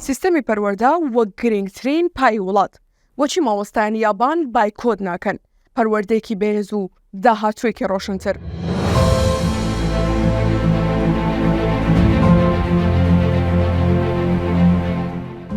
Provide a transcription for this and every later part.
سیستەمی پەروەردە وەک گرنگترین پای وڵات بۆچی مامۆستایانی یابان بایکۆت ناکەن پەروەردەیەکی بەهێز و داهاتوێکی ڕۆشنتر.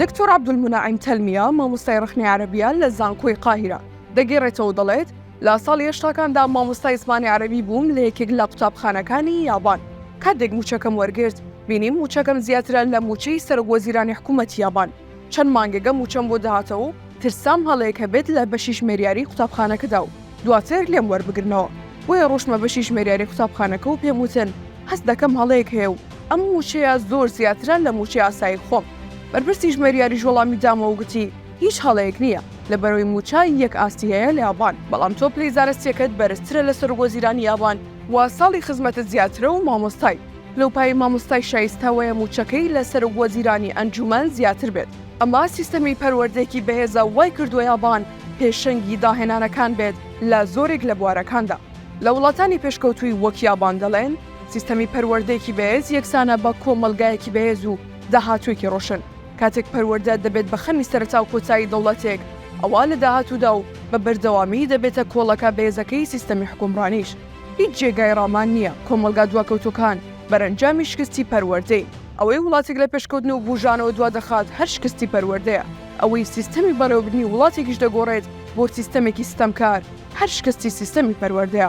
دکتۆر عبدولمناعیم تەلمیە مامۆستای ڕخنی عربیە لە زانکۆی قاهیرە دەگەڕێتەوە دەڵێت لە ساڵی هەشتاکاندا مامۆستای زمانی عەرەبی بووم لە یەکێک لە قوتابخانەکانی یابان. کاتێک مووچەکەم وەرگرت، بینیم مووچەکەم زیاترە لە مووچەی سەرۆکوەزیرانی حکوومەتی یابان. چەند مانگێکە مووچەم بۆ دەهاتەوە و ترسام هەڵەیەک هەبێت لە بەشی ژمێریاریی قوتابخانەکەدا و دواتر لێم وەربگرنەوە. بۆیە ڕۆشتمە بەشی ژمێریاریی قوتابخانەکە و پێم وتن هەست دەکەم هەڵەیەک هەیە و ئەم مووچەیە زۆر زیاترە لە مووچەی ئاسایی خۆم. بەرپرسی ژمێریاریش وەڵامی دامەوە و گوتی، هیچ هەڵەیەک نییە لە بەرەوی مووچە یەک ئاستی هەیە لە یابان بەڵام تۆ پلەی زارستیەکەت بەرزترە لە سەرۆک وەزیرانی یابان و ساڵی خزمەتت زیاترە و مامۆستای لەوپای مامۆستای شایستە وەیە مووچەکەی لە سەرۆک وەزیرانی ئەنجومەن زیاتر بێت ئەمە سیستەمی پەروەردەیەکی بەهێزە وای کردووە یابان پێشەنگی داهێنانەکان بێت لە زۆرێک لە بوارەکاندا لە وڵاتانی پێشکەوتووی وەک یابان دەڵێن سیستەمی پەروەردەیەکی بەهێز یەکسانە بە کۆمەڵگایەکی بەهێز و داهاتووێکی ڕۆشن. کاتێک پەروەردە دەبێت بە خەمی سەرەتا و کۆتایی دەوڵەتێک، ئەوا لە داهاتوودا و بە بەردەوامی دەبێتە کۆڵەکە بەهێزەکەی سیستەمی حوکمڕانیش. هیچ جێگای ڕامان نییە کۆمەڵگا دواکەوتووەکان بەرەنجامی شکستی پەروەردەین. ئەوەی وڵاتێک لە پێشکەوتن و بووژانەوە دوا دەخات هەر شکستی پەروەردەیە. ئەوەی سیستەمی بەڕێوەبردنی وڵاتێکیش دەگۆڕێت بۆ سیستەمێکی ستەمکار، هەر شکستی سیستەمی پەروەردەیە.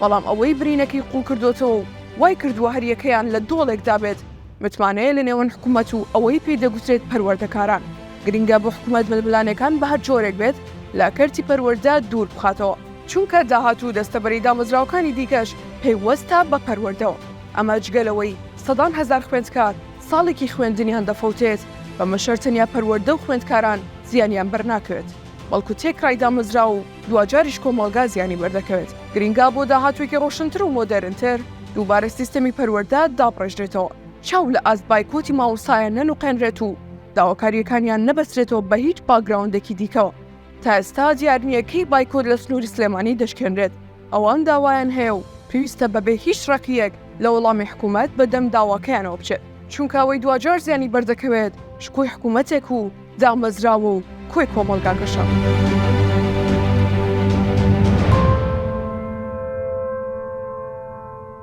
بەڵام ئەوەی برینەکەی قوڵ کردۆتەوە و وای کردووە هەر یەکەیان لە دۆڵێکدا بێت، متمانەیە لە نێوان حکومەت و ئەوەی پێی دەگوترێت پەروەردەکاران، گرنگە بۆ حکومەت ململانێکان بە هەر جۆرێک بێت لە کەرتی پەروەردە دوور بخاتەوە، چونکە داهات و دەستەبەری دامەزراوەکانی دیکەش پەیوەستە بە پەروەردەوە، ئەمە جگە لەوەی سەدان هەزار خوێندکار ساڵێکی خوێندنیان دەفەوتێت، بەمەشەر تەنیا پەروەردە و خوێندکاران زیانیان بەرناکەوێت، بەڵکو تێکرای دامەزراو و. دواجاریش کۆمەڵگا زیانی بەردەکەوێت، گرینگە بۆ داهاتوێکی ڕۆشنتر و مۆدێرنتر دووبارە سیستەمی پەروەردە دابڕێژرێتەوە، چاو لە ئاست بایکۆتی مامۆستایان نەنوقێنرێت و داواکارییەکانیان نەبەسترێتەوە بە هیچ باکگراوندێکی دیکەوە، تا ئێستا دیار نییە کەی بایکۆت لە سنووری سلێمانی دەشکێنرێت، ئەوان داوایان هەیە و پێویستە بەبێ هیچ ڕەقییەک لە وەڵامی حکوومەت بەدەم داواکەیانەوە بچێت، چونکە ئەوەی دواجار زیانی بەردەکەوێت شکۆی حکوومەتێک و دامەزراوە و کۆی کۆمەڵگاکەشە.